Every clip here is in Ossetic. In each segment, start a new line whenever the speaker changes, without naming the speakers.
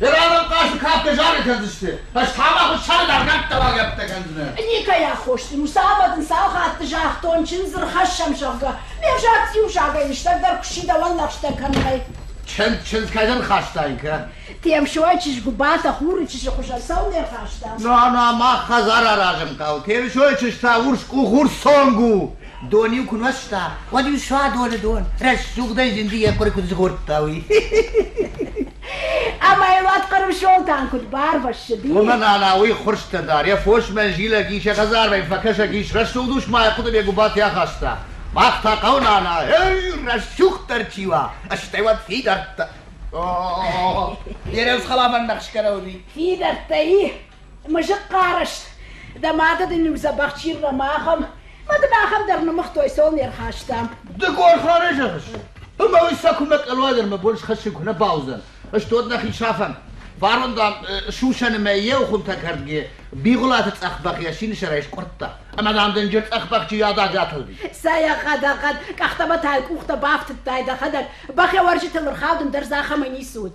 Ираны хъазты кӕпты зары кӕндзысты. Фӕстӕмӕ хуыссӕны дӕр нӕмттӕ баргӕппытӕ кӕндзынӕ. Никӕй аххос дын у, цавӕр дын цал хатты загътон, чындз ӕрхӕссӕм, зӕгъгӕ. Ме взаг иузагӕй лыстӕгдӕр куы си дӕуӕн лӕгъстӕ кӕнынӕй. Чындз, чындз, кӕй дын хастаин, кӕд? Темсойы чызг Гуыбатӕ хуры чызджы хуызӕн цӕуыл не рхаста? Нана, мах хӕдзар аразын хъӕуы. Темсойы чызг та урс къух, урс цонг у. Дон-иу куы нуӕзта, уӕд-иу суадоны дон рӕсугъдӕй зынды йӕ хъуыр куыд згъордта, уый. Ӕмӕ йыл ӕтхъырм солтан куыд барвӕссыди. Уымӕн ӕнӕ уый хурстӕ дӕр, йӕ фосмӕ зилӕг ис, йӕ хӕдзармӕ фӕкӕсӕг ис, рӕсугъд ус ма йӕ хъуыдыйӕ гуыбатӕй ахаста. Мах та хъӕуы нана, рӕсугъддӕр чи уа, стӕй уӕд фидӕрттӕ. О, бирӕ хъаламан нӕхскӕрӕ уыди. Фидӕрттӕ и? Мызы хъарыст. Дӕ мады дын иу дзӕбӕх чиргъӕм ахӕм. Мӕ дын ахӕм дӕр нымыгътой, цол не рхастам. Ды гор хъары зӕгъыс? Ымӕ уый сӕ куымӕ къӕлӕдӕр мӕ бон схӕссыг куы нӕ бауыдзӕн. Стод нӕхи сафӕм. Фарон, дам, сусӕны мӕ еу хуынтӕ кӕрдгӕ Бигъуылаты цъӕхбӕх йӕ синысӕрӕй скъуырдта. Ӕмӕ, дам, дынджыр цъӕхбӕхджы ядӕг атылди. Цӕйӕгъӕд, ӕгъгъӕд, къӕхтӕмӕ тайы къухтӕ бафтыдтай дӕхӕдӕг. Бӕхӕ уӕрджытыл ӕрхауд, ӕндӕр дзы ахӕмӕй ницы уыд.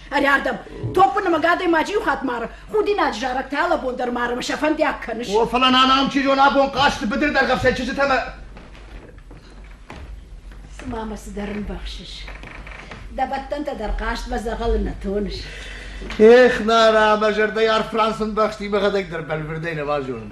Ӕрӕрдӕм. Топпы нымӕг адӕймаджы иу хатт мары. Худинаджы зарӕг та лӕбон дӕр мары мӕ сӕ фӕндиаг кӕныс. О, фӕлӕ нана ам чи зон абон хъазты быдыр дӕргъӕв сӕ чызджытӕ мӕ... Цыма мӕ цыдӕр ӕмбӕхсыс. Дӕ бӕттӕнтӕ дӕр хъазтмӕ дзӕгъӕлы нӕ тоныс. Ех, Нара, мӕ зӕрдӕйы арф Франц ӕмбӕхсти, мӕхӕдӕг дӕр бӕлвырдӕй нӕ базонын.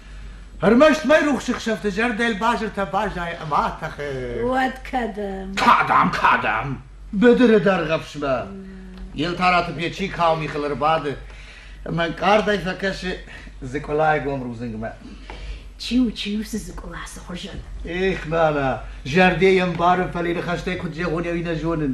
Ӕрмӕст майрухсы хсӕвты зӕрдӕйыл базыртӕ баззайы ӕмӕ тӕхы. Уӕд кӕдӕм? Кӕдӕм, кӕдӕм? Быдыры дӕргъӕфсмӕ. Елтараты печи кау михыл ӕрбады ӕмӕ ӕнкъардӕй фӕкӕсы Дзыкъулайы гом рудзынгмӕ. Чи у, чи у цы Дзыкъула цы хуызӕн? Эх, нана, зӕрдӕ йӕ ӕмбарын, фӕлӕ ныхӕстӕй куыд зӕгъон ӕви нӕ зонын.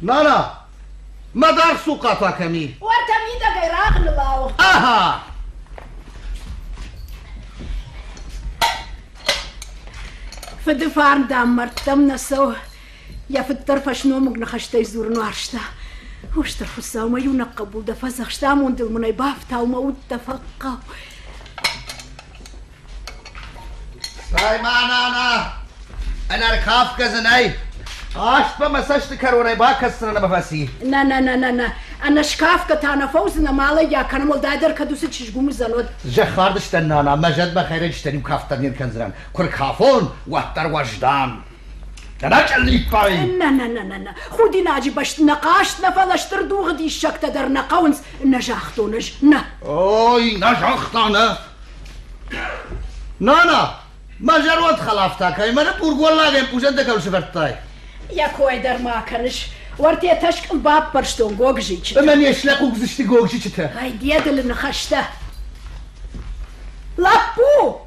Нана! Мӕ даргъ цухъа пӕ кӕми? Уӕртӕ мидӕгӕй рагъныл ауыгъд. Ага! Фыды фарн, дам, мӕрдтӕм нӕ цӕуы. Йӕ фыддӕр фӕсномыг ныхӕстӕй дзурын уарзта. О, стыр Хуыцау, мӕ иунӕг хъӕбул дӕ фӕдзӕхст, амондыл мын ӕй бафтау, мӕ уд дӕ фӕхъхъау. Сайман ана! Ӕнӕркафгӕ дзы нӕй! Аспа мӕ цӕсты кӕронӕй бакӕсдзынӕн ӕмӕ фӕци. Нӕ, нӕ, нӕ, нӕ, нӕ. Ӕнӕ скафгӕ та нӕ фӕуыдзынӕ, ма лӕгиа, кӕнӕ уӕлдайдӕр кӕд уыцы чызг уымдзӕн, уӕд. Зӕххардыстӕн, нана, мӕ зӕдмӕ хӕйрӕджытӕн иу кафт дӕр не ркӕндзынӕн. Куы ркафон, уӕддӕр уӕздан. Нӕ, нӕ, нӕ, нӕ, нӕ, худинаджы бӕсты нӕ хъаст, нӕ фӕлӕ стыр дугъы диссӕгтӕ дӕр нӕ хъӕуынц, нӕ загътон ӕз, нӕ. Ой, нӕ загъта, нӕ. Нана, мӕ зӕронд хӕлафтӕ кӕй мӕ бургуаллагӕн пузӕнтӕ кӕм сывӕрдтай? Йӕ кой дӕр ма кӕныс. Уӕртӕ тӕскъыл баппӕрстон гогзичы. Ӕмӕ не слӕ хъугдзысты гогзичытӕ. Ай, дедылы ныхӕстӕ. Лӕппу!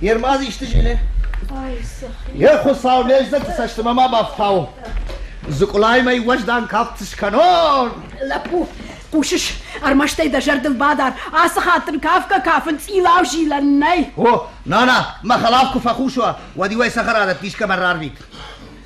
Йе рмаз исты зилы? Йе хуыцау лӕдзӕгты цӕстымӕ ма бафтау. Зыкъулай мӕй уӕздан кафт скӕнон. Лӕппу, хъусыс, ӕрмӕстӕй дӕ зӕрдыл бадар, ацы хатт дын кафгӕ кафын цъилау зилӕн нӕй. О, нана, мӕ хӕлаф куы фӕхъус уа, уӕд-иу ӕй цӕхӕрадӕтты искӕмӕ рарвит.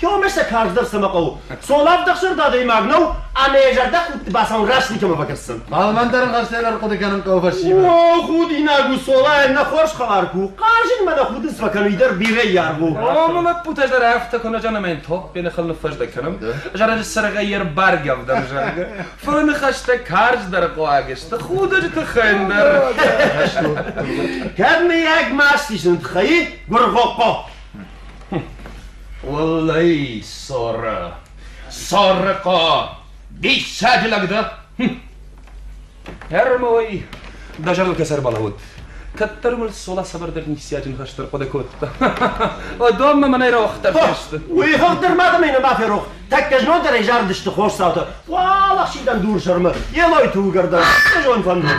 Кӕмӕ сӕ карздӕр цӕмӕ хъӕуы? Цолавдӕхсӕрд адӕймаг нӕу, ӕмӕ йӕ зӕрдӕхудты бацауын рӕстӕг кӕмӕ бакӕсдзӕн? Балмӕндарын гъӕрсӕлар хъуыды кӕнын хъӕуы фӕсивӕд. О, худинаг у, Солайӕн нӕ хорз хабар ку. Хъазынмӕ нӕ худын цыма кӕны, уый дӕр бирӕ йаргъ у. Ӕмӕ лӕппутӕ зӕрӕхтӕ куы нӕ зӕгъын ӕмӕ йын топпӕй ныхыл ныффӕздӕг кӕнӕм, зарӕджы сыргъӕй йӕ рбаргӕ ӕвдӕм зӕгъы, фыры ныхӕстӕ карздӕр хъуаг сты, худӕджы тыххӕй ӕндӕр. Кӕд мыййаг маст исыны тыххӕй, гуыргъохъо? Уаллӕй, Сорэ, Сорыхъо, диссаджы лӕг дӕ! Ӕрмой, дӕ зӕрдыл кӕсӕр балӕууӕд. Кӕддӕр мыл солā сабырдӕр ниссиаджын хӕстӕр хъуыды кодта. Донмӕ мӕнӕй рауагъддӕр фӕсты. Уый хыгъддӕр мадӕмӕй нӕма ферох. Тӕккӕ знондӕрӕй зарыдысты хорз цаутӕ. Уал ӕхсидӕн дур сӕрмы, елойты уыгӕрдӕн, хъызон фӕндон.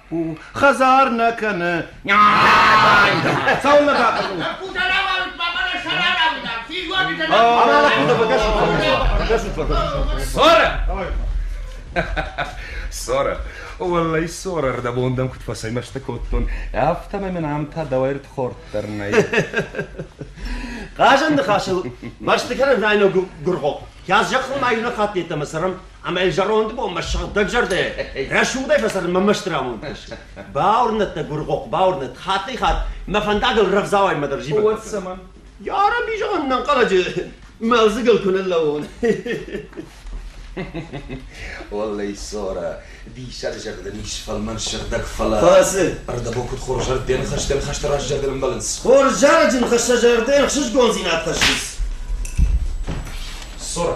лӕппу хӕдзар нӕ кӕны. Цӕуылнӕ бахъуыд? Лӕппутӕ рауарут, баба нӕ сӕрӕрауд ам. Физуатитӕ нӕ. Ама лӕппутӕ бакӕсут, бакӕсут. Сора! Сора, уӕллӕй Сора рдӕбон дӕм куыд фӕцӕймӕстӕ кодтон, афтӕмӕй мын ам та дӕуӕй ртхорд дӕр нӕй. Хъазӕн ныхасыл мӕсты кӕнын райног гуыргъохъ. Кӕс зӕххон айнӕ хаттет ӕмӕ цӕрӕм Ӕмӕ зӕронды бонмӕ сыгъдӕгзӕрдӕ рӕсугъдӕй фӕцӕрын мӕ мӕсты рамондтис. Бауырнӕд дӕ, гуыргъохъ, бауырнӕд, хаттӕй-хатт мӕ фӕндагыл рӕвдзауӕймӕ дӕр зивӕг Уӕд цӕмӕн? Йа Рабби, зӕгъӕн нӕнхъӕлӕджы мӕлдзыгыл куы ныллӕууон. Оллӕй, Сора, диссаг зӕрдӕн ис фӕлмӕн сыгъдӕг, фӕлӕ... Фӕлӕ ӕрдӕбон куыд хорз зӕрдӕ ныхӕстӕ ныхӕсты раз зӕрдӕ нымбӕлынц. Хорз зарӕджы ныхӕстӕ зӕрдӕ ӕхсызгондзинад хӕссынц. Сора,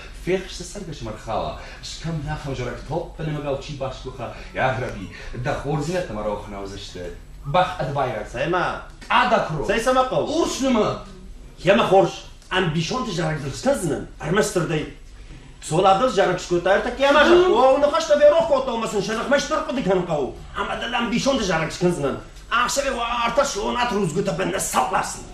Фехсы цӕргӕсмӕрхала, стӕм нӕ хӕвзарӕг топпӕны мыгау чи басгуыха, Ӕгърӕби, дӕ хорздзинӕдтӕ-ма рохны уыдзысты. Бӕх ӕд байраг. Цӕмӕ? Къадакуро. Цӕй цӕмӕ хъӕуы? Урс нымы. Йемӕ хорз. Ӕмбисонды зарӕг скӕндзынӕн, ӕрмӕстдӕрдӕй. Цоладыл зарӕг скодта ӕртӕккӕ ӕмӕ загъта, О, ныхӕстӕ ферох кодта, ӕмӕ сын сӕ ныхмӕ стыр хъуыды кӕнын хъӕуы. Ӕмӕ дыл ӕмбисонды зарӕг скӕндзынӕн. Ӕхсӕвы уӕ ӕртӕ сонат рудзгуытӕ бынмӕ сӕлласынӕн.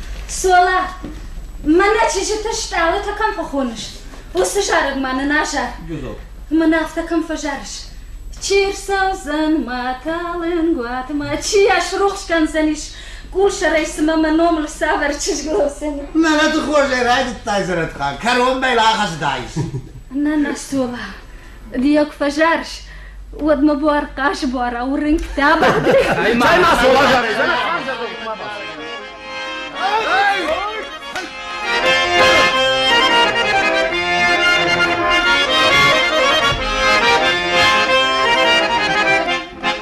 Сола, мӕнӕ чызджыты стъалытӕ кӕм фӕхоныс, уыцы зарӕг ма нын азар. Мӕн афтӕ кӕм фӕзарыс? Чи рцӕудзӕн мӕталынгуат ма чи йӕ срухс кӕндзӕнис? Къусӕрӕй цымӕ мӕ номыл цавӕр чызг лӕудзӕн? Мӕлӕты хорзӕй райдыдтай, Зӕрӕтхан, кӕронбай лахӕсыдаис. Нана, Сола, Ди куы фӕзарыс, уӕд мӕ буар хъасбуара уырынгтӕ бадри. Ай ма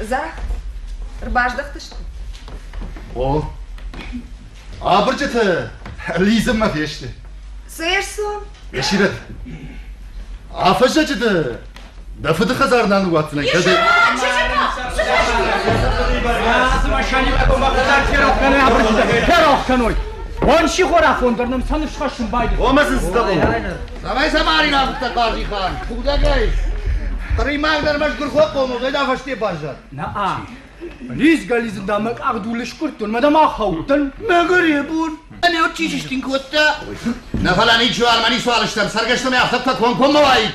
Зӕгъ, ӕрбаздӕхтысты? О, абырджыты лидзынмӕ фесты. Цы ӕрцу? Есирӕт, афӕззӕджыты Дӕ фыды хӕдзар нал ныууадздзынӕ, кӕд... Ферох кӕной! Уан сихорафон дӕр нӕм сӕн ысхӕссын байдыд. Омӕ сын сдӕбон. Давай сӕ ма ривӕрдта Хъазихан. Худӕгӕй. Хъыримаг дӕр мӕ сгуыр фӕхъомыл, уӕд афӕсте баззад. Наа. Лизгӕ-лизын дам мӕ къахдул ыскъуырдтон, мӕ дам ахаудтӕн. Мӕгӕр йе бон. Ӕнӕ ott чи сыстин кодта? Нӕ фӕлӕ ничи уал, мӕ ницы уал стӕм, цӕргӕстӕ мӕ афтӕ куы кӕмкоммӕ уаид.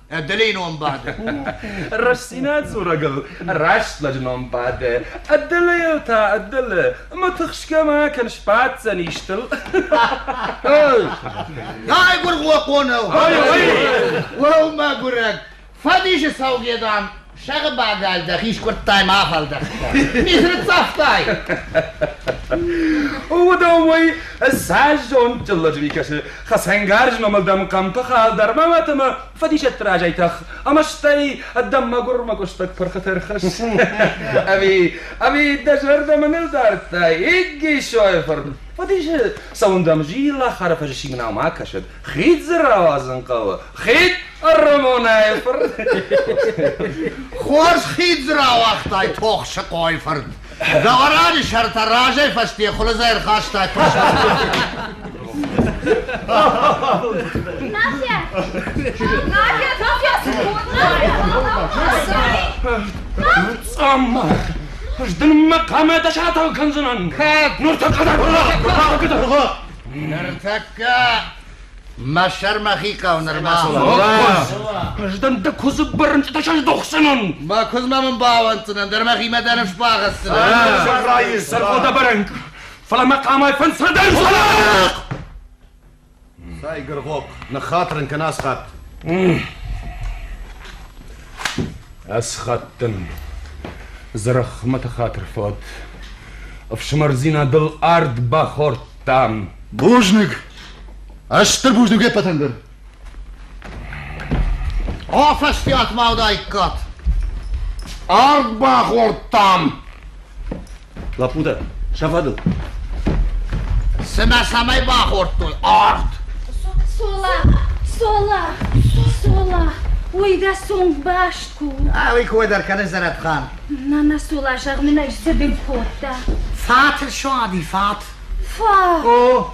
Ӕддӕлейы ном бады. Рӕстдзинад дзурӕгыл раст лӕджы ном бады. Ӕддӕлейыл та ӕддӕле, ӕмӕ тыхсгӕ ма кӕн сбаддзӕн истыл. Ай гуыргъо хонау! Уӕу, мӕгуырӕг! Фӕдисы саугедам Сӕрбагал дӕхи скуырдтай ма фӕлдӕхтӕ. Ми ныццавтай? О, да, уый зазон чыллӕджы микӕсы хӕцӕнгарз номыл дӕм хъӕмпы хал дӕр ма мӕт ӕмӕ фӕдисӕтты разӕй тӕх, ӕмӕ стӕй дӕм мӕгуырмӕ къуыстӕг пырхы тӕрхыс. Ами, ами дӕ зӕрдӕ мӕныл дардтай, Игги Шойфорд. Фӕдисы цӕуын дӕм зилахары фӕзысимынау ма кӕсыд, Хид дзы рауадзын хъӕуы. Хид ӕррамонай фырт. Хорз хид дзы рауагътай тох сыкъой фырт. Гавараны сӕртӕ разӕй фӕсте хуылыдзӕй рхастай Надя! Надя! Надя! Amma! Zdın makamı da şatal kanzınan. Kad! Nurta kadar bula! Bula! Ныртӕккӕ мӕ сӕрмӕхи хъӕу нырма. Ӕздӕн дӕ куыдзы бырынчъытӕ сӕздӕхдзынӕн. Мӕ куыдзмӕ мын бауӕнддзынӕн, дӕр мӕхимӕ дӕр сбагъӕцдзынӕн. Сарайы сӕргода бӕрӕнг, фӕлӕ мӕ къамай фӕнцадӕн. Цай, Гыргъохъ, ныххатыр ын кӕн асхат. Ӕсхъӕдтӕн, Дзӕрӕхмӕты хатыр фӕуӕд, Ӕфсымӕрдзинадыл ард бахордтам. Бузныг! Ӕстыр бузныг е ппӕтӕн дӕр! Афӕстиатмӕ уыдаиккат! Ард бахордтам! Лӕппутӕ, сӕ фӕдыл! Цымӕ цӕмӕй бахордтой ард? Сола! Сола! Сола! Ой, дӕ цонг баст куы у! Али кой дӕр кӕны Зӕрӕтхан. На, на, Сола, зӕгъ мын ӕз, цы дын кодта? Фат, суади, фат! Фа! О,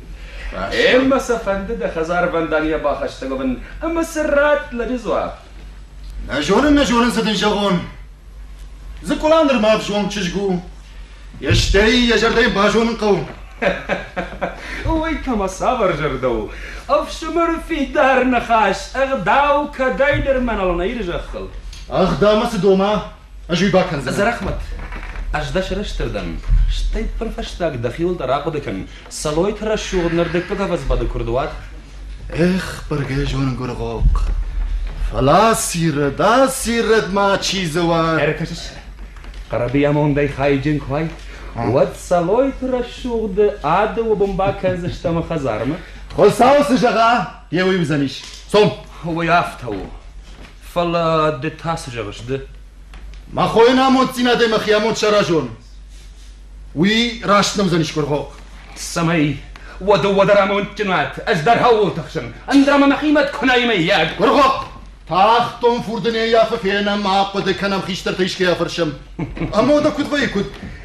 Ӕмӕ сӕ фӕнды дӕ хӕдзарвӕнданийӕ бахӕссӕг уӕвын ӕмӕ сӕ радт лӕджы дзуапп. Нӕ зонын, нӕ зонын, цы дын зӕгъон. Дзыкъула нырма ӕвзонг чызг у. Стӕй йӕ зӕрдӕ йын базонын хъӕуы. Уый кӕмӕ цавӕр зӕрдӕ у? Ӕфсымӕры фидар ныхас, ӕгъдау кӕдӕйдӕр мӕныл нӕ иры зӕххыл. Ӕгъдаумӕ цы дома? Ӕз уый бакӕндзынӕн. Зӕрӕхмӕт, ӕз дӕ сӕрыстыр дӕн. Стӕй пырфӕстаг дӕхиуыл дӕр ахъуыды кӕн, Цӕлойты рӕсугъд нырдыгпы къабазбады куырдуат. Эх, быргӕ зонгуыргъохъ! Фӕлӕ сирӕг, а сирӕг ма чи дзы уа? Ӕркӕсыс, хъӕрӕбыамондӕй хайджын куы уай, уӕд Цӕлойты рӕсугъды ӕды уыбын бакӕндзыстӕм ӕмӕ хӕдзармӕ. Хуыцау цы зӕгъа, йӕ уый уыдзӕнис. Цом! Уый афтӕ у. Фӕлӕ ды та цы зӕгъыс, ды? Мӕ хойӕн амонддзинадӕй мӕхи амонд саразон. Уый раст нӕ уыдзӕн Исгуырхох. Цӕмӕй? Уӕдӕ уӕдӕр амондджын уат, ӕз дӕр хъӕуыл тыхсын, ӕндра мӕ мӕхимӕ куынай мыййаг? Гуыргъохъ! Тагъддон фурды не ййафы фенӕм, ӕхъуыды кӕнӕм хистӕртӕй искӕй афӕрсӕм. Амондӕ куыд вӕййы, куыд?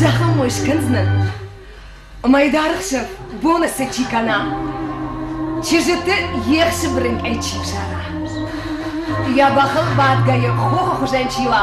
Зӕгъын мой скӕндзынӕн, мӕй дӕргъсӕф бонысы чи кӕна, чызджыты ехсы бырынкъӕй чи взара. Йӕ бӕхыл бадгӕйӕ хохы хуызӕн чи уа,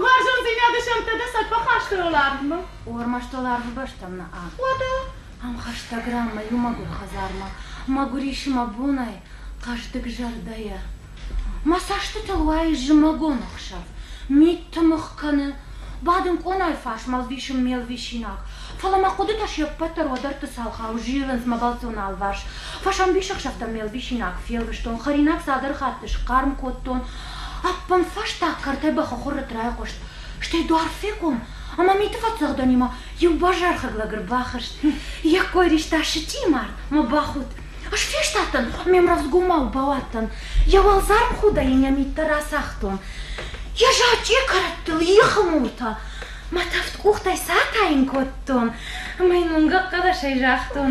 Уарзондзийнадӕ сӕнттӕ сӕ фӕххастӕуӕларвмӕ? Ормаст уӕларвы бӕстӕм нӕ ам. Уӕдӕ ӕмхӕстӕг рамӕ иу мӕгуыр хӕдзармӕ, мӕгуыр исы мӕ бонӕй, хъӕздыг зӕрдӕйӕ. Мӕ цӕстытыл уайы зымӕгон ӕхсӕв, миттымыгъ кӕны. Бадын къонайы фарсмӕ ӕвдисы ме лвисинаг, фӕлӕ мӕ хъуыдытӕ се ппӕт дӕр уӕдӕртты цалхау зилынц мӕ бӕлццон алварс. Фӕсӕмбисӕхсӕвтӕм ме лвисинаг фелвыстон, хӕринаг цалдӕр хатты схъарм кодтон, Ӕппынфӕстаг кӕртӕй бӕхыхуыррытт райхъуыст, стӕй дуар фехъом, ӕмӕ миты фӕцӕгъдӕнимӕ иу базархаг лӕг ӕрбахызт. Йӕ кой риста сычъийы мард мӕ бахудт. Ӕз фестадтӕн, ме мрӕзгомау бауадтӕн. Йӕ уӕлдзарм худӕй йын йӕ миттӕ рацагътон. Йӕ зачъе кӕрӕттыл, ихы муртӕ. Мӕ тӕвд къухтӕй сатайын кодтон, ӕмӕ йын уынгӕг хъӕлӕсӕй загътон.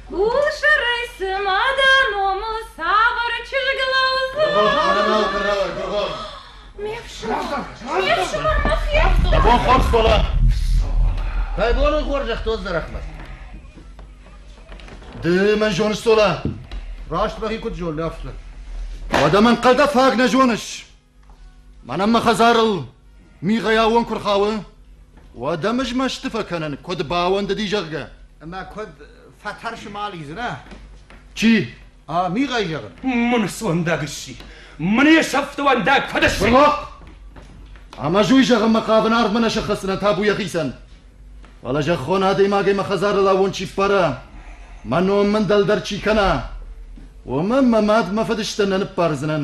Усырый цыма дӕ номыл цавӕр чызгыл аудза? Ме фсымӕр, ме фсымӕр мӕ фехтон. Абон хорз кола. Пайдолон хорзӕх то зарахмат. Ды мӕ зоныс сола? Раст мӕхи куыд зонын афтӕ. Уӕдӕ мӕн хъӕдӕ фаг нӕ зоныс? Мӕнӕн мӕ хӕдзарыл мигъӕй аууон куы рхауы, уӕд ӕм ызмӕсты фӕкӕнын, куыд бауӕндыди, зӕгъгӕ. Ӕмӕ куыд фӕтӕрсы мал изӕрӕ? Чи? А, мигъӕй зӕгъын. Мын суӕндаг ысси. Мын йе сӕфтуӕндаг куыд ысси? Бролокъ! Ӕмӕ ӕз уый зӕгъынмӕ хъавын арвмӕ нӕ сыххӕссынӕн табу йӕхицӕн. Фӕлӕ зӕххон адӕймагӕй мӕ хӕдзарыл аууон чи ппара, мӕ ном мын дӕлдӕр чи кӕна, уымӕн мӕ мад мӕ фыдыстӕн нӕ ныббардзынӕн.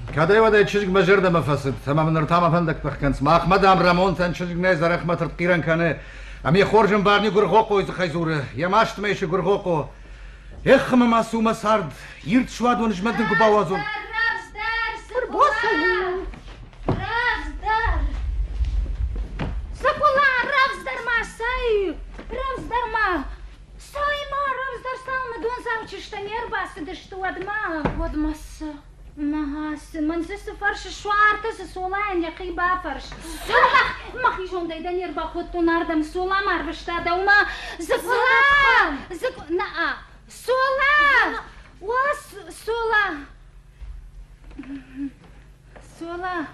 Кӕдӕй-уӕдӕй чызг мӕ зӕрдӕмӕ фӕцыд, ӕмӕ мын ныр та мӕ фӕндӕг тых кӕнынц. Махмӕ, дам, Рӕмонтӕн чызг нӕй, Зӕрӕхмӕ тыртхъирӕн кӕны. Ӕмӕ хорз ӕмбарни Гуыргъохъойы дзыхӕй дзуры, йӕ мастмӕ исы Гуыргъохъо. Эх, ӕмӕ ма цу, мӕ цард! Ирд суадон змӕдын куы бауадзон! Раздӕр, Босо у! Раздӕр! Сакула, раздӕр ма цӕй! Раздӕр ма! Цӕй-ма, раздӕр цал мы донзау чызтӕ не рбацыдысты уӕдмӕ, уӕдмӕ цы? Мӕнсӕ цы фӕрсы, суартӕ цы солайӕн йӕхи бафӕрс. Мӕхи зондӕй дӕ не рбакодтон ардӕм, солам арвыста дӕумӕ. Зыгула! Зыгу... На-а! Сола! О, Сола! Сола!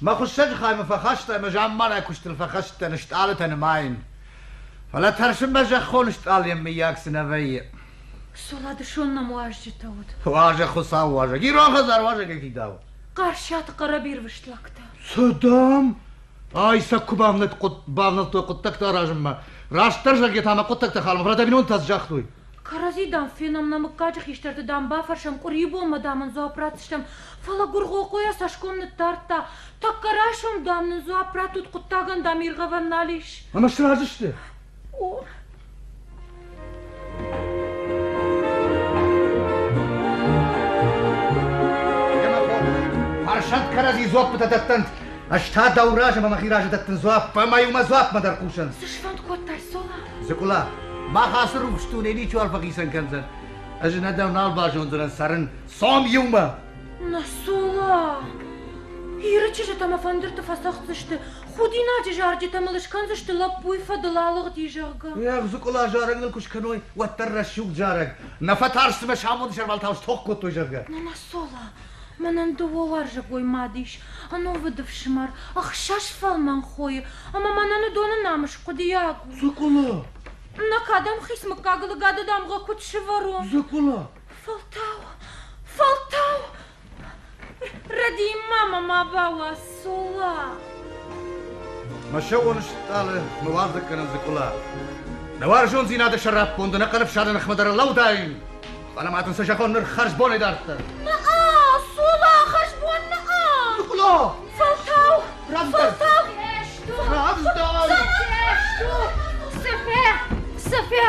Мӕ хуыссӕджы хаймӕ фӕхаста ӕмӕ замманай куыстыл фӕхӕцыдтӕн стъалытӕ нымайын. Фӕлӕ тӕрсынмӕ зӕххон стъалыйӕн мыййаг цы нӕ вӕййы. Соладышон мӕм уазджытӕ уыд. Уазӕг хуыцау уазӕг, ирон хӕдзар уазӕгӕй фидауы. Хъарсиаты хъӕрӕбирвыст лӕгтӕ. Цы, дам? Ай сӕ куы бавнӕлд, бавнӕлдтой хъуыддӕгтӕ аразынмӕ. Растдӕр зӕгъгӕ та мӕ хъуыддӕгтӕ халмӕ, фӕлӕ дӕ бинонтӕ цы загътой? Кӕрӕдзи, дам, фенӕм нӕ мыггаджы хистӕрты, дам, бафӕрсӕм, къуырийы бонмӕ, дам, ын дзуапп ратдзыстӕм. Фӕлӕ Гуыргъохъо йӕ цӕсгом ныддардта. Тӕккӕ райсом, дам, нын дзуапп радтут, хъуыддагӕн, дам, иргъӕвӕн нал ис. Ӕмӕ сразы сты? О. Фарсат кӕрӕдзи дзуаппытӕ дӕттӕнт. Ӕз та дӕу размӕ мӕхи разы дӕттын дзуапп, ӕмӕ-иу мӕ дзуаппмӕ дӕр хъусӕнт. Цы сфӕнд кодтай, Сола? Дзыкъула, мах ацы рухс дунейы ничиуал фӕхицӕн кӕндзӕн. Ӕз нӕ дӕу нал базондзынӕн цӕрын, цом иумӕ! Нӕ цома! Иры чызджытӕ мӕ фӕндырты фӕцӕгъддзысты, худинаджы зарджытӕ мыл скӕндзысты лӕппуйы фӕдыл алыгъди, зӕгъгӕ. Ӕгъ, Дзыкъула, зарӕг ныл куы скӕной, уӕддӕр рӕсугъд зарӕг. Нӕ фӕтарст, цымӕ самоны сӕрвӕлтау стох кодтой, зӕгъгӕ. Нана Сола, Мӕнӕн дыууӕ уарзӕгой мад ис, ӕнувыд ӕфсымӕр, ӕхсӕз фӕлмӕн хойы, ӕмӕ мӕнӕн уыдоны намыс хъуыдыйаг у. Закъула! Нӕ кӕдӕм хиц мыггагыл гӕды дамгъӕ куыд сывӕрон? Закъула! Фӕлтау! Фӕлтау! Рӕдийын ма мӕ ма бауадз! Мӕсӕуон стъалы мыуадзӕг кӕнӕн дзыкъула. Нӕ уарзондзийнадӕ сӕраппонд ӕнӕхъӕн ӕфсадӕн ӕхмӕдӕр лӕудайн, фалӕ ма дын сӕ зӕгъон нур хӕрзбонӕй дарддӕр. Наа, сула хӕрзбон наа! Дзыкъула! Фӕлтау! Фӕлтау! Равздай! Сӕфӕ! Сӕфӕ!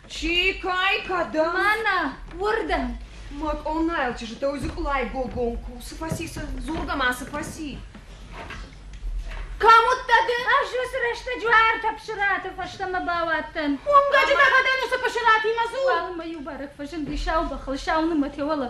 Чи кӕй кӕдӕм? Мӕнӕ уырдӕм! Мӕ къонайыл чызджытӕй дзыкъулӕй гогон куы сыфӕци, дзургӕ ма сыфӕци. Кӕм уыдтӕ ды? Ӕз уыцы рӕстӕджы уӕртӕ псыраты фӕстӕмӕ бауадтӕн. Уынгӕджы дӕхӕдӕн уыцы пысыратимӕ дзул? Ӕмӕ иу бӕрӕг фӕзынди сау бӕхыл, сау нымӕт йӕ уӕлӕ.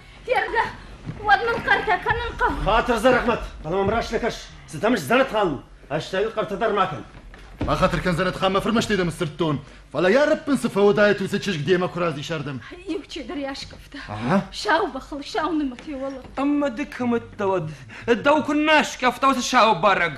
Федгӕ, уӕд мын хъӕртӕ кӕнын хъӕуы. Хатыр Зӕрӕхмӕт, фӕлӕ мӕм раст нӕ кӕс, цы дӕм сдзӕнӕтгъӕл у, стӕй хъӕртӕ дӕр ма кӕн. Бахатыр кӕн, Зӕрӕтхан, мӕ фырмӕстӕй дӕм сдзырдтон, фӕлӕ йӕ рӕппын цы фӕуыдаид, уыцы чызг демӕ куы разис ардӕм. Иу чидӕр йӕ аскъӕфта. Сау бӕхыл сау нымӕт йӕ уӕлӕ. Ӕмӕ ды кӕм ӕддӕуӕд? Дӕу куы нӕ аскъӕфта уыцы сау барӕг!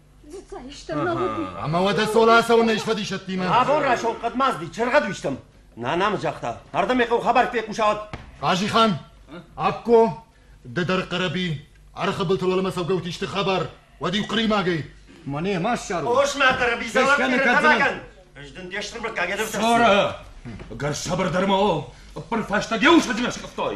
Ӕма уӕдӕ цъол ацӕуӕн ес фӕдисӕттимӕ? Абон рӕсугъд хъӕдмазди чергъӕд уистам. Нанам загъта, ардӕм хъо хабар фехъуса гъӕд. Хъазихан, Акко, ды дӕр Хъӕрӕби, ӕрхӕбӕлтӕ уӕлӕмӕ цӕугӕути сты хабар, уӕд-иу хъӕримагӕй. Мӕне ма ссару. Ос-ма, Хъӕрӕби, залак кӕнӕ Ӕз дын де стыр баккагӕ дӕр Сара, ӕгӕр сабырдӕр ма у, ӕппӕр фӕстаг еу сӕдзмӕ скъӕфтай.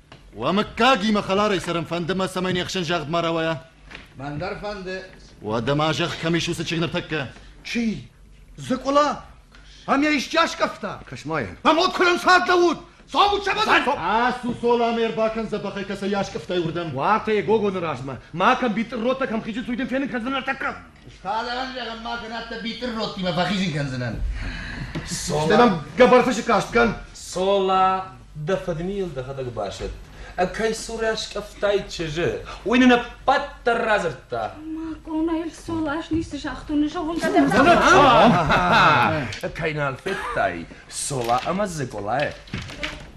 Уӕ мыггагимӕ хӕларӕй цӕрын фӕнды мӕ, цӕмӕй не хсӕн загъд ма рауайа. Мӕн дӕр фӕнды. Уӕдӕ ма зӕгъ, кӕм ис уыцы чыг ныртӕккӕ? Чи? Зыкъула? Ам йӕ исчи аскъӕфта? Кӕс-ма йӕ. Ам уӕд куырӕн цард лӕууыд! Цом учебӕдӕ! Ацу, Цола, ме рбакӕн дзӕбӕхӕй кӕцӕй аскъӕфтай уырдӕм. Уатӕ, Гогоны размӕ. Ма кӕм битъырротӕ, кӕм хизы цуйдын фенын кӕндзынӕ ныртӕккӕ? Схалӕн зӕгъӕн ма кӕнӕд дӕ битыр ротимӕ фӕхизин кӕндзынӕн. Сола... Ӕмӕ гӕбӕрфысы каст кӕн. Сола, дӕ фыдмийыл дӕхӕдӕг басӕтт. Кӕй цурӕ скъӕфтай чызджы, уый нын ӕппӕт дӕр радзырдта. Мӕ къонайыл Солас ницы загътон, зӕгъон-ка дӕ. Кӕй нал федтай, Сола ӕмӕ Дзыкъула?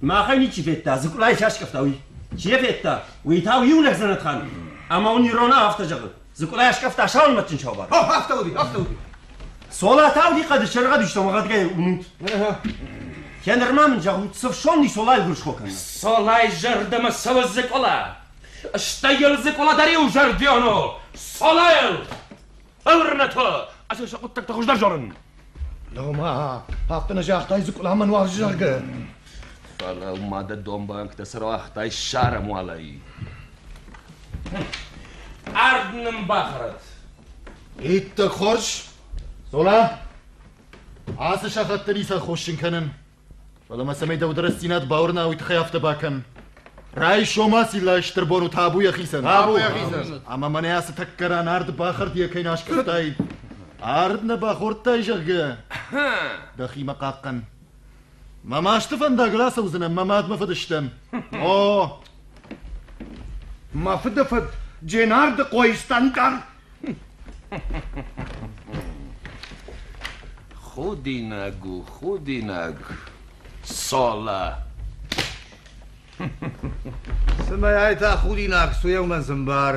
Махӕй ничи федта, Дзыкъулайы чи аскъӕфта, уый. Чи йӕ федта, уый та у иу лӕг Дзӕнӕтхан. Ӕмӕ уын Ирона афтӕ зӕгъы, Дзыкъула аскъӕфта саулмӕтджын саубар. О, афтӕ уыди, афтӕ уыди. Сола та уыди хъӕды сӕргъӕд истом ӕгадгай уынут. Кӕ нырма мын зӕгъут, цы фсон и Солайы гуырысхо кӕнна? Солай зӕрдӕмӕ цӕуы Дзыкъула. Стӕй йыл Дзыкъула дӕр иу зӕрдиону, Солайыл! Ӕврынӕ та! Ӕз сӕ хъуыддӕгтӕ хуыздӕр зарын. Лӕгмӕ, афтӕ нӕ загътай Зыкъуламӕ нуарзы заргӕ. Фӕлӕ ма дӕ домбӕнктӕ цы рауагътай сӕрам уалӕй. Ард нын бахӕрӕд. Иттӕг хорз. Цола, ацы сахат дын ницӕ хоссын кӕнын. Фӕлӕ ма цӕмӕй дӕу рӕстдзинад бауырна, уый тыххӕй афтӕ бакӕн. Райсом ациллайы стыр бон у табуйӕ хицӕн. Табуйӕ хицӕн. Ӕмӕ мӕнӕ ацы тӕккӕ ран ард бахӕрдийӕ кӕй нӕ аскъӕфтай. Ард нӕ бахордтай, зӕгъгӕ. Дӕхимӕ хъахъхъӕн. Мӕ масты фӕндагыл ацӕудзынӕн, мӕ мад мӕ фыдыстӕм. О! Мӕ фыды фыд Дженардыхъойы станкъар Худинаг у, худинаг. Сола. Цымӕй та худинаг суеумӕн зымбар.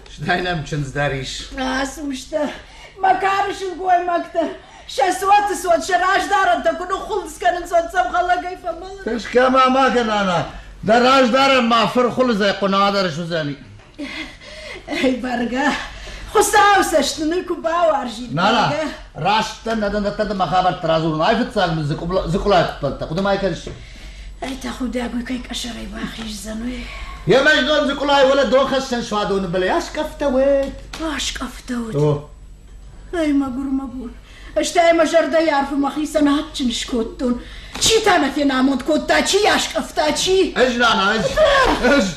Стӕй нӕм чындз дӕр ис. Ацы мыстӕ, мӕ кары сылгоймӕгтӕ, сӕ цоты цот, сӕ раздарӕнтӕ куы ныххуылынц кӕнын цот хӕлӕгӕй фӕмӕлын. Тӕскӕ ма ма кӕна, нана. Дӕ раздарӕн ма фырхуылыдзӕй хъуынадӕр суыдзӕни. Ай бӕргӕ, Хуыцау цӕст нын куы бауарзид. Нана, раст дӕн, нӕ дӕн дӕттӕ ӕмӕ хабӕрттӕ радзурын. Ай фыццаг мын зыкъулӕй хуыппӕнтӕ. Хъуыды ма кӕныс? Ай та худӕгуй кӕй къӕсӕрӕй бахиздзӕнуй. Емӕз дон зыкъулай уӕлӕ дон хӕссӕн суадоны былӕй аскъӕфтӕ уӕд. Аскъӕфтӕ уӕд. Ай мӕгур, мӕгур. Стӕй мӕ зӕрдӕйы арфы мӕхицӕн адджын скодтон. Чи та нӕ фенамонд кодта, чи аскъӕфта, чи... Ӕз рана, ӕз! Ӕз!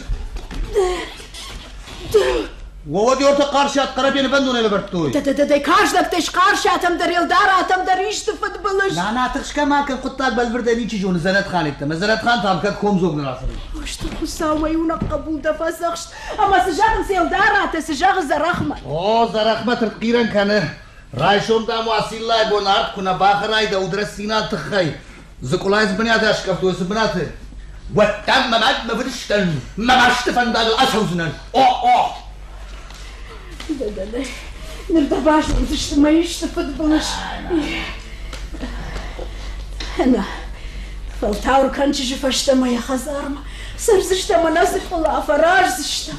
Воводёрты Хъарсиат Хъарабе нывӕндонӕй лӕвӕрдтой. Дӕ каждӕгтӕй Хъарсиатӕм дӕр, Елдаратӕм дӕр исты фыдбылыз. Нана, тыхсгӕ ма кӕн, хъуыддаг бӕлвырдӕй ничи зоны Зӕрӕтханӕйттӕм. Зӕрӕтхан та кӕд комдзог нӕ рацӕуы. Хъысты Хуыцаумӕ иунӕг хъӕбул дӕ фӕдзӕхст. Ӕмӕ цы зӕгъынц Елдаратӕ, цы зӕгъы Зӕрӕхмӕ? О, Зӕрӕхмӕ тыртхъирӕн кӕны. Райсом, дам, уӕ циллайы бон арт куы нӕ бахӕрай дӕ удрӕстдзинады тыххӕй, Дзыкъулайы цы бынаты аскъӕфтой, цы бынаты? Уӕддӕр мӕ мад мӕ фыдыстӕн, мӕ масты фӕндагыл ацӕудзынӕн. О, о! Дада, ныр дӕ базондзысты мӕ исты фыдбылыз. Нӕ, фӕлтауыр кӕн чызджы фӕстӕ мӕ йӕ хӕдзармӕ. Цӕрдзыстӕм ӕнӕ дзыкъула, фӕраздзыстӕм.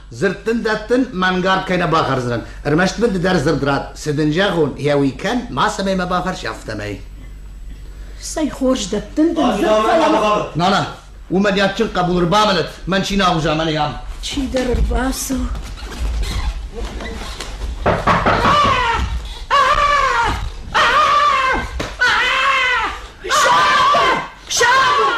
Дзырд дын дӕттын мӕнгард кӕй нӕ бахӕрдзынӕн, ӕрмӕст мын ды дӕр дзырд рад, цы дын зӕгъон, йӕ уый кӕн, мацӕмӕй мӕ бафӕрс, афтӕмӕй. Цӕй хорз дӕттын дын дзырд фӕлӕ. Нана, уымӕ де адджын хъӕбул ӕрбамӕлӕд, мӕн чинагъуз амӕнӕй ам. Чидӕр ӕрбацу. Сабыр! Сабыр!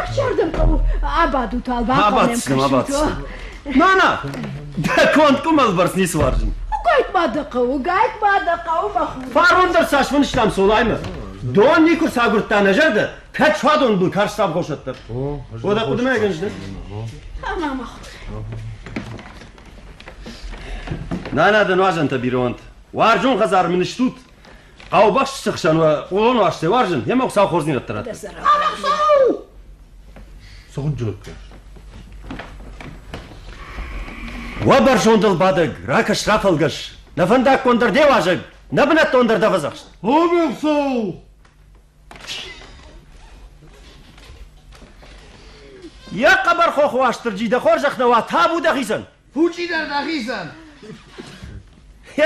Ӕхсардӕн хъӕуы абадут, бахъуамӕм кӕсут. Мана, дӕ конд къуымӕлбӕрц ницы уарзын. Гайт-ма дӕ хъӕуы, гайт-ма дӕ хъӕуы, мӕ хур. Фарон дӕр цас фынстам Солаймӕ. Дон никуы сагуырдта нӕ зӕрдӕ, кӕд суадон был карста абхосӕт дӕр. Уӕдӕ хъуыдымӕ ӕгӕн здӕн. Ӕмӕ мӕ хур. Нана дӕ нуазӕнтӕ бирӕонт. Уарзон хӕдзар мын стут, Хъӕубӕсты цы хсӕн уа, уыдон уастӕй уарзын, йемӕ Хуыцау хорздзинӕдтӕ радта. Цы хуынджылыккӕ? Уӕ бӕрзондыл бадӕг, ракӕс рафӕлгӕс, нӕ фӕндаггон дӕр де уазӕг, нӕ бынӕттон дӕр дӕ фӕдзӕхст. Обелсоу! Йӕ хъӕбӕр хох Уастырджи, дӕ хорзӕх нӕ уа, табу дӕхицӕн! Пучъи дӕр нӕхицӕн!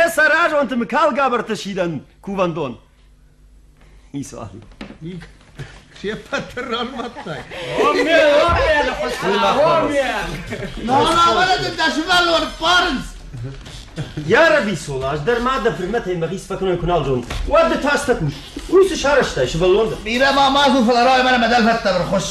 Е сӕразонти микалгабырты сидӕн кувӕндон. Исуал. Се ппӕты рарвӕттай? Омме, омме, Науравӕлӕдын дӕ сывӕллон ппарынц! Ярабисол, аз дӕр ма дӕ фырмӕтӕй мӕгъис фӕкӕнон куы нал зонын, уӕд ды та стӕ кус. Уый цы сарӕзтай, сывӕллон дӕ? Бирӕ ма ма кӕн, фӕлӕ рауай мӕнӕ мӕ дӕлфӕдтӕ бырхуысс.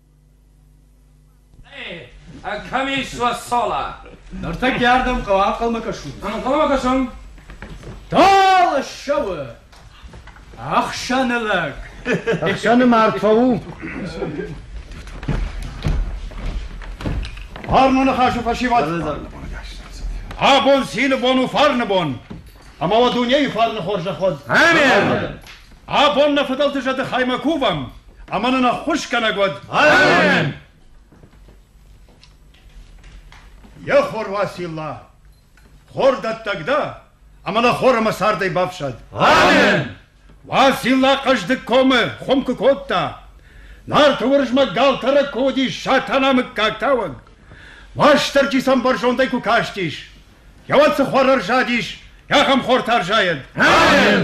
Комиссия сола. Нартӕ ардӕм хъӕуы ӕнхъӕлмӕ кӕсут. Ӕнхъӕлмӕ кӕсӕм? Дал ссӕуы. Ӕхсӕны лӕг. Ӕхсӕны мартфа у. Фарноны хӕсу фӕсивӕд. Абон цины бон у фарны бон. Ӕмӕ уӕ дунейы фарны хорзӕход. Амин! Абон нӕ фыдӕлты зӕды хаймӕ кувӕм, ӕмӕ нын ӕххуысгӕнӕг уӕд! Амин! Йе хор Уасилла, хордӕттӕг дӕ, ӕмӕ нӕ хор ӕмӕ цардӕй бафсӕд! Амин! Уасилла хъӕздыг комы хуым куы кодта. Нарты Уырызмӕг галтӕрӕг куы уыдис Сатана мыггаг тауӕг. Уастырджи сӕм бӕрзондӕй куы кастис. Йӕ уад цы хуар ӕрзадис, ахӕм хортӕ ӕрзайӕд! Амин!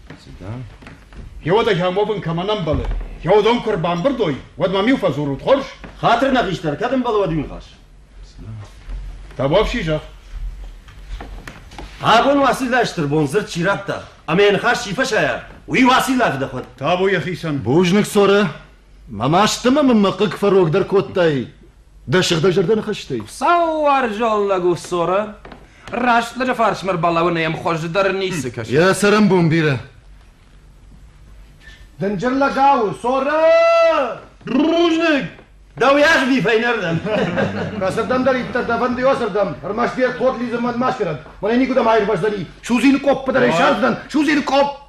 Цы да? Йеуодагӕ мо бын кӕмӕн ӕмбӕлы, йеудон куы рбамбырд уой, уӕд мӕм-иу фӕдзурут, хорз? Хатыр нӕ хистӕр, кӕд ӕмбӕлы, уӕд иу ныхас. Табуапси зӕгъ. Абон Уациллайы стырбон дзырд чи радта ӕмӕ йӕ ныхас чи фӕсайа, уый Уациллафы дӕхуӕд. Табу йӕхицӕн. Бузныг, Цорӕ. Мӕ масты ма мын мӕ хъыг фӕрогдӕр кодтай дӕ сыгъдӕг зӕрдӕ ныхӕстӕй. Хуыцаууарзон лӕг у Сора. Раст лӕджы фарсмӕ ӕрбалӕуын ӕм хуыздӕр ницы кӕсы. Йӕ цӕрӕнбон бирӕ. Дынджыр лӕгау, Сора! Бузныг! Дӕу ӕгъди фӕйнӕрдӕм. Кӕсӕрдӕм дӕр иттӕг дӕ фӕнды йосӕрдӕм, ӕрмӕст йе тод лидзын мӕн ма сферӕд. Мӕнӕ никуыдӕм аирвӕздзӕни. Судзин къоппы дӕр ӕй сардзынӕн, судзин къопп!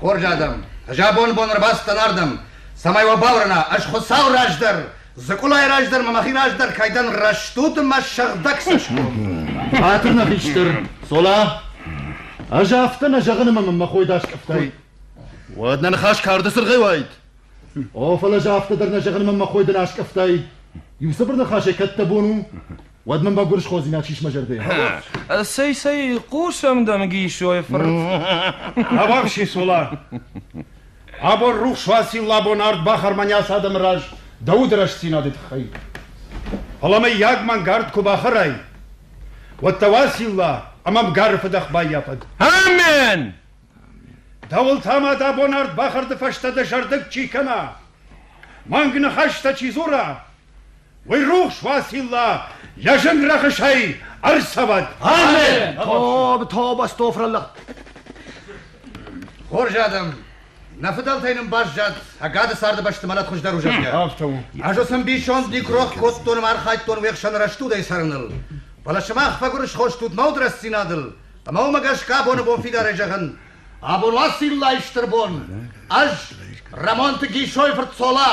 Хорз адӕм, ӕз абоны бон ӕрбацыдтӕн ардӕм, цӕмӕй уӕ бауырна, ӕз Хуыцауы раздӕр, Дзыкъулайы раздӕр мӕ мӕхи раздӕр кӕй дӕн рӕстуд ӕмӕ сӕгъдӕг цӕсгом. Хатырна хистӕр, Цола, ӕз афтӕ нӕ зӕгъын ӕмӕ мын мӕ хой даст къӕфтӕй. Уӕд нӕ ныхас карды цыргъӕй уайд. О, фӕлӕ ӕз афтӕ дӕр нӕ зӕгъын ӕмӕ мӕ хой дын аскъӕфтай. Иу цыбыр ныхасӕй кӕд дӕ бон у, Уӕд мын мӕгуырсходзинаг сис мӕ зӕрдӕ. Цӕй, цӕй, хъусӕм дӕн Гисойы фырт. Авахси сула! Абон рухс уацил лабон ард бахарманяс адӕмы раз дӕ уды рӕстдзинады тыххӕй. Фӕлӕ мыййаг мӕнгард куы бахӕрай, уӕд дӕ уацилла ӕмӕ мгары фыдӕх баййафӕд. Амен! Дӕуыл та ма дӕ бон ард бахӕрды фӕстӕ дӕ зӕрдыг чи кӕна, мӕнг ныхӕстӕ чи дзура, Уый рухс Василла йӕ зын рӕхысӕй ӕрцӕвӕд! Амин! Тоб, тоб, Астофраллах! Хорз адӕм, нӕ фыдӕлтӕй нын баззад сӕ гӕды царды бӕсты мӕлӕт хуыздӕр у, зӕгъгӕ. Афтӕ у. Ӕз ӕрцӕмбисонд никрох кодтон ӕмӕ архайдтон уе хсӕн рӕстудӕй цӕрыныл. Фӕлӕ сымах фӕгуырысхо стут нӕуд рӕстдзинадыл, ӕмӕ уымӕ гӕсгӕ абоны бон фидарӕй зӕгъын, абон Уасиллайы стыр бон, ӕз, Рӕмонты Гисойы фырт Цола,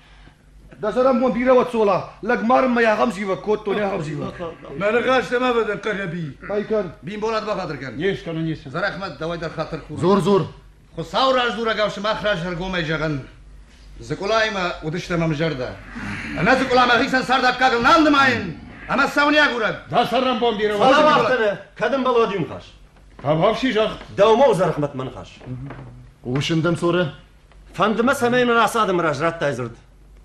Дӕ зӕрӕнбон бирӕ уӕ цола, лӕг марын мӕй ахӕм зивӕг кодтон, ахӕм зивӕг. Мӕ рыгӕстӕ ма бадӕн Хъарӕби. Байкӕн. Бимболат бахатыр кӕн. Не скӕнӕн ницы. Зӕрӕхмӕт, дӕуӕй дӕр хатыр курын. Зор, зор. Хуыцау раздзурӕгау сымах раззӕргомӕй зӕгъын. Дзыкъулаимӕ уыдыстӕм ӕмзӕрдӕ. Ӕмӕ дзыкъула мӕхицӕн цард аккагыл нал нымайын, ӕмӕ сӕуын и агурӕг. Дӕ сӕрӕнбон бирӕ уа. Фӕлӕ уӕхтӕ, кӕд ӕмбӕлод иу ныхас. Табӕфси зӕгъ. Дӕумӕ у Зӕрӕхмӕт мӕ ныхас. Хъусын дӕм, Цорӕ. Фӕнды мӕ, цӕмӕй ныр ацы адӕмы раз радтай дзырд.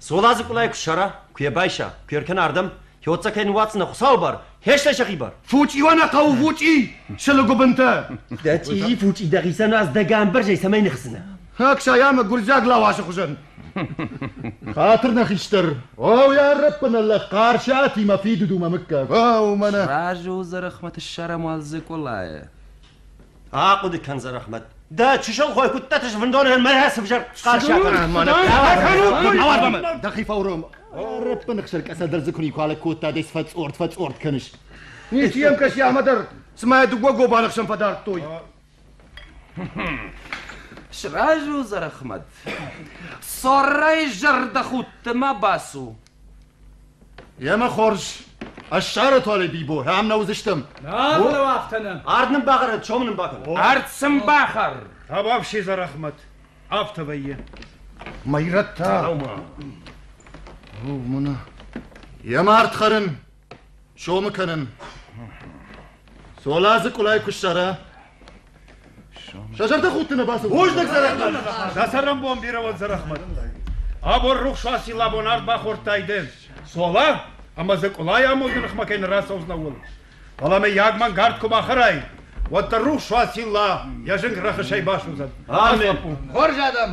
Соладзы къулӕй куы ссара, куы йӕ байса, куы йӕ ркӕна ардӕм, хьоццӕ кӕй ныууадздзынӕ Хуыцауы бар, хӕстӕй сӕхи бар. Фучъи уа нӕ хъӕуы фучъи, сылы гуыбынтӕ! Дӕ чъизи фучъи дӕхицӕн аз дӕ гӕмбӕрзӕй цӕмӕй ныхсдзынӕ? Хӕксай ӕмӕ гуырдзиаг лауасы хуызӕн. Хатыр нӕ хистӕр. Оу, йӕ ӕрӕппынӕллӕг Хъарсиатимӕ фидыдумӕ мыггаг. О, уымӕ нӕ. Бӕззу, Зӕрӕхмӕт ссарӕм уал дзы къулайы. Ахъуыды кӕн, Зӕрӕхмӕт. Дӕ чысыл хой куыддӕты сфындонӕн мӕ сӕвзӕр схъӕрсӕхъӕн. Дӕхи фӕуром. Рӕппыныхсӕр къӕсӕ дӕр дзы куы никуалӕг кодта, де сфӕцъорд фӕцъорд кӕныс. Ничи йӕм кӕси ӕмӕ дӕр, цыма йӕ дыууӕ гобаны хсӕн фӕдардтой. Сразу, Зӕрӕхмӕт. Соррӕй зӕрдӕхудтмӕ бацу. Емӕ хорз. Ӕз сӕры туалӕй, Бибо, ам нӕ уыдзыстӕм. Нӕ, мӕнӕу афтӕ нӕ. Ард нын бахӕрӕд, сомы нын бакӕн. Ард сын бахӕр. Табафси Зӕрӕхмӕт. Афтӕ вӕййы. Мӕйрӕттӕ. О, мына. Йӕ мард хӕрын. Сомы кӕнын. Сола дзы къулӕй куы ссара. Сӕ зӕрдӕ худтыны бацу. Бузныг, Зӕрӕхмӕт! Дӕ цӕрӕнбон бирӕ уӕд, Зӕрӕхмӕт. Абон рухс уаци лӕбон ард бахордтайдӕ. Сола ӕмӕ дзы къулӕй амонды ныхмӕ кӕй ныррацӕудзынӕ, ууыл. Фӕлӕ мӕ йаг мӕнгард куы бахӕрай, уӕддӕр рухс уаци Ла йӕ зынг рӕхысӕй басудзӕд. Амен. Хорз адӕм!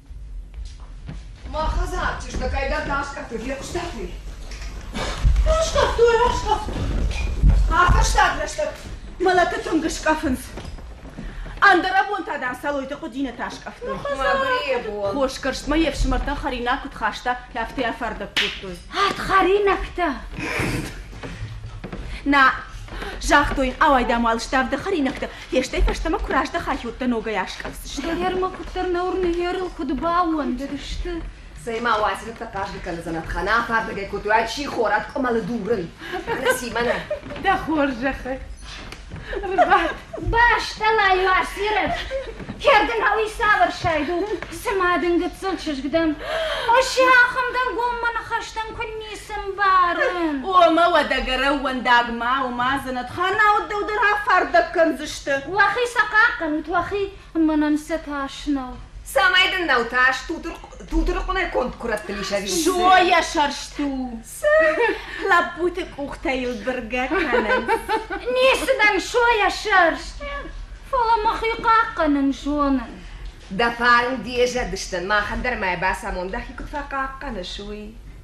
Мӕ хӕдзар чызгакӕй дӕр раскъӕфты фехъуыстатай? Раскъӕфтой, раскъӕфтой. Афӕстаг рӕстӕг мӕлӕты цунг скъӕфынц. Ӕндӕр абонтӕ дӕр Цӕлойты хъуыдинӕтӕ скъӕфтой. Мӕ бон. Хосгӕрстмӕ йе фсымӕртӕ хӕринаг куыд хаста, афтӕ йӕ фӕрдӕг кодтой. Ӕд хӕринӕгтӕ! Нӕ, загътой, ауайдам уал ставд хӕринӕгтӕ, Фестӕй фӕстӕмӕ куы раздӕхат, уӕд дӕ ногӕй аскъӕфдзысты. Кавалермӕ куыддӕр нӕуыр ныййерыл куыд баууӕндыдысты. Цӕй-ма, уадзгуытӕ хъазгӕ кӕндзынӕ, Ханах ардыгӕй кодтой, чи хорӕг къуымӕлы дурын. Ныси мӕнӕ. Дӕ хорзӕхы рбад. Бӕстӕмӕ-иу асирӕд, кӕрдынау иссавӕрсайд у, цыма дын гыццыл чызг дӕн. Осиахӕм дӕнгоммӕ ныхӕстӕм куынницы Цы мбарын? Омӕ уӕдӕ гӕрӕууӕндаг ма уымӕдзӕнӕт, хӕрнауд дӕу дӕр афардӕг кӕндзысты. Уӕхи сӕ хъахъхъӕнут, уӕхи, мӕнӕн сӕ тас нӕу. Цӕмӕй дын нӕу тас, тутырыхъуынӕй конд куырӕтты ис ӕви? Зоя сӕрст у. Цы? Лӕппуты къухтӕ йыл быргӕ кӕнынц. Ницы дӕн, Зоя сӕрст. Фӕлӕ мӕхи хъахъхъӕнын зонын. Дӕ фарн де зӕдыстӕн, махӕн дӕр мӕ бацамон, дӕхи куыд фӕхъахъхъӕныс, уый.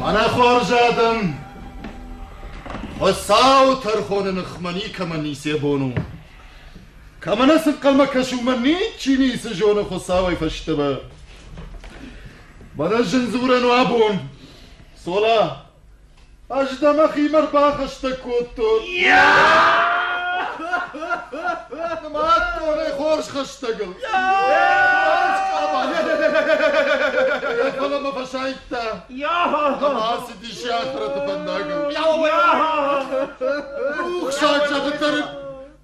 Мӕнӕ хуарз адӕм, Хуӕцау тӕрхони ныхмӕ никӕмӕ нице бон у. Кӕмӕ нӕ сынхъӕлмӕ кӕсы, уымӕ ничи ницы зоны Хуыцауӕй фӕстӕмӕ. Мӕнӕ зын дзурӕн у абон. Цола, Ӕз дӕ мӕхимӕ рбахӕстӕг кодтон. Мад донӕй хорз хӕстӕгыл. Фӕлӕ мӕ фӕсайдта. Ӕмӕ ацыдис йӕ ахрӕты фӕндагыл. Рухсаг зӕгъы тӕрын.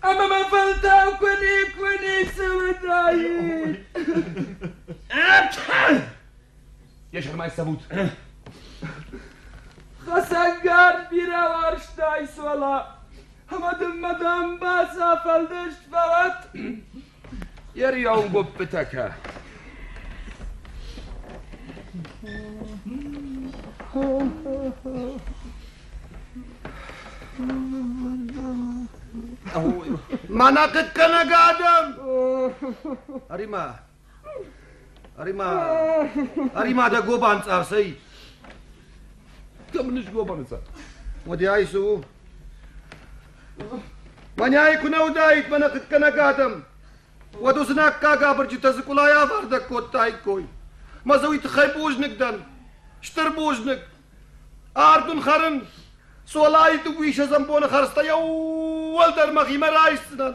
Ама ма фӕлтау куни, куни цӕуӕдаид. Йе сӕрмай цӕвут. Хасангар бирӕ уарзтай суала. Ама дын мадам бацафӕлдыст фӕлат. Йе рӕугоппытӕ кӕ! Мана хъыткӕнӕг адӕм! Ӕримӕ! Ӕримӕ! Ӕримӕ дӕ гобан цъӕрсӕй! Кӕм ныз гобаны цъӕр? Уӕдӕ ай цы у? Мӕнӕй куы нӕ уыдаид мӕнӕ хъыггӕнӕг адӕм, уӕд уыцы наккаг абырджытӕ дзыкъулӕй авӕрдӕг кодтаиккой. Мӕ дзы уый тыххӕй бузныг дӕн. Стыр бузныг. Ард уын хӕрын. Цолайы дыууиссӕдзӕм боны хӕрдзтӕ йӕ уӕлдӕр мӕхимӕ райсдзынӕн.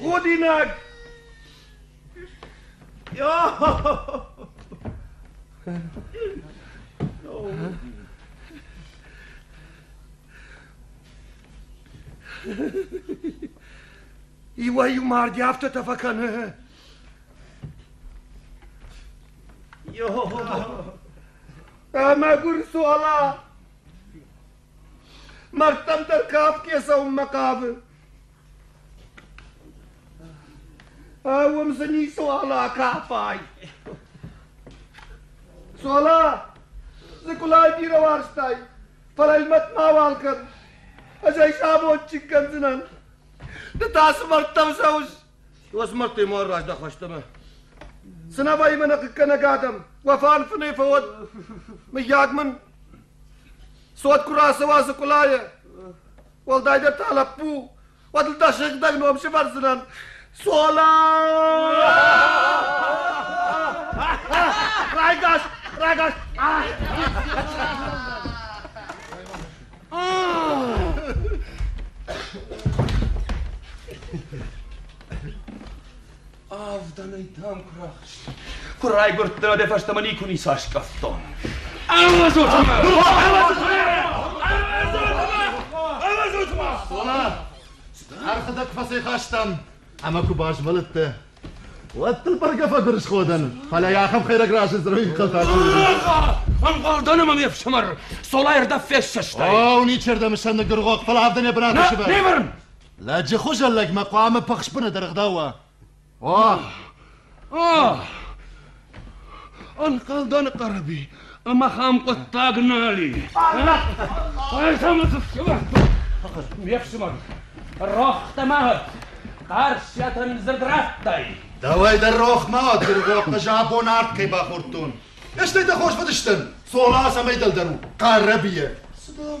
Гудинаг! Иуӕй-иу марди афтӕтӕ фӕкӕны. Ӕмӕ гуыр суала! Мӕрдтӕм дӕр кафгӕ цӕуынмӕ хъавы. Уым дзы ницуал акафай. Цола, дзыкулай бирӕ уарзтай, фӕлӕ ӕлмӕт мауал кӕн. Ӕз ӕй сабончик кӕндзынӕн. Ды та цы мӕрдтӕм цӕуыс? Уоцы мӕрдтӕй ма раздах фӕстӕмӕ. Цынӕ вӕййы мӕнӕ хъыккӕнӕг адӕм, уӕ фарн фынӕй фӕуӕд. Мыййаг мын цот куы рацӕуа зыкъулайӕ, уӕлдайдӕр та лӕппу, уӕд ыл дӕ сыгъдӕг ном сывӕрдзынӕн. Сола! Райгас! Райгас! Авдӕнӕй дам куы рахст. Куы райгуырдтӕ, дӕ фӕстӕмӕ никуы ницы аскъӕфтон. Ӕвӕзут-ма! Ӕрхыдӕг фӕцӕйхастам, ӕмӕ куы базмӕлыдтӕ, Уӕд дыл бӕргӕ фӕдырысходӕн, фӕлӕ йӕ ахӕм хӕйрӕг разынд рынхъылтӕ Ӕмгъӕл дӕн ӕмӕ ме фсымӕр Солай ӕрдӕм фессӕстай. О, ничердӕм сӕн ныггыргъох, фӕлӕ авдӕнӕ бынаты сывӕр. Не бырын! Лӕджы хуызӕн лӕгмӕ хъуамӕ пыхсбыны дыргъ дӕуа. О! О! Ӕнхъӕлдӕн Хъӕрӕби, ӕмӕ хӕм хъуыддаг нал и. Ӕз ӕмӕ цы фсымӕр? Ме фсымӕр, рохтӕ ма уӕд, Хъарсиатӕн дзырд радтай? Дӕуӕй дӕр рох ма уӕд, Гыргохъы жабон арт кӕй бахордтон. Стӕй дӕ хорз фӕдыстӕн, Цола цӕмӕй дӕлдӕр у, Хъӕрӕбийӕ. Цы дӕм?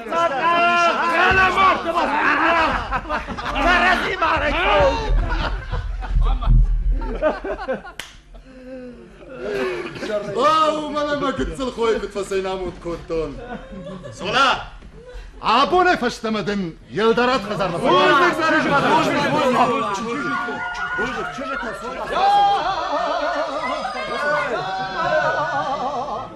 О, мӕнӕ гыццыл хойы куыд фӕцӕйнамуд кодтон. Сола! Абонӕй фӕстӕмӕ дын Елдарат хӕдзармӕ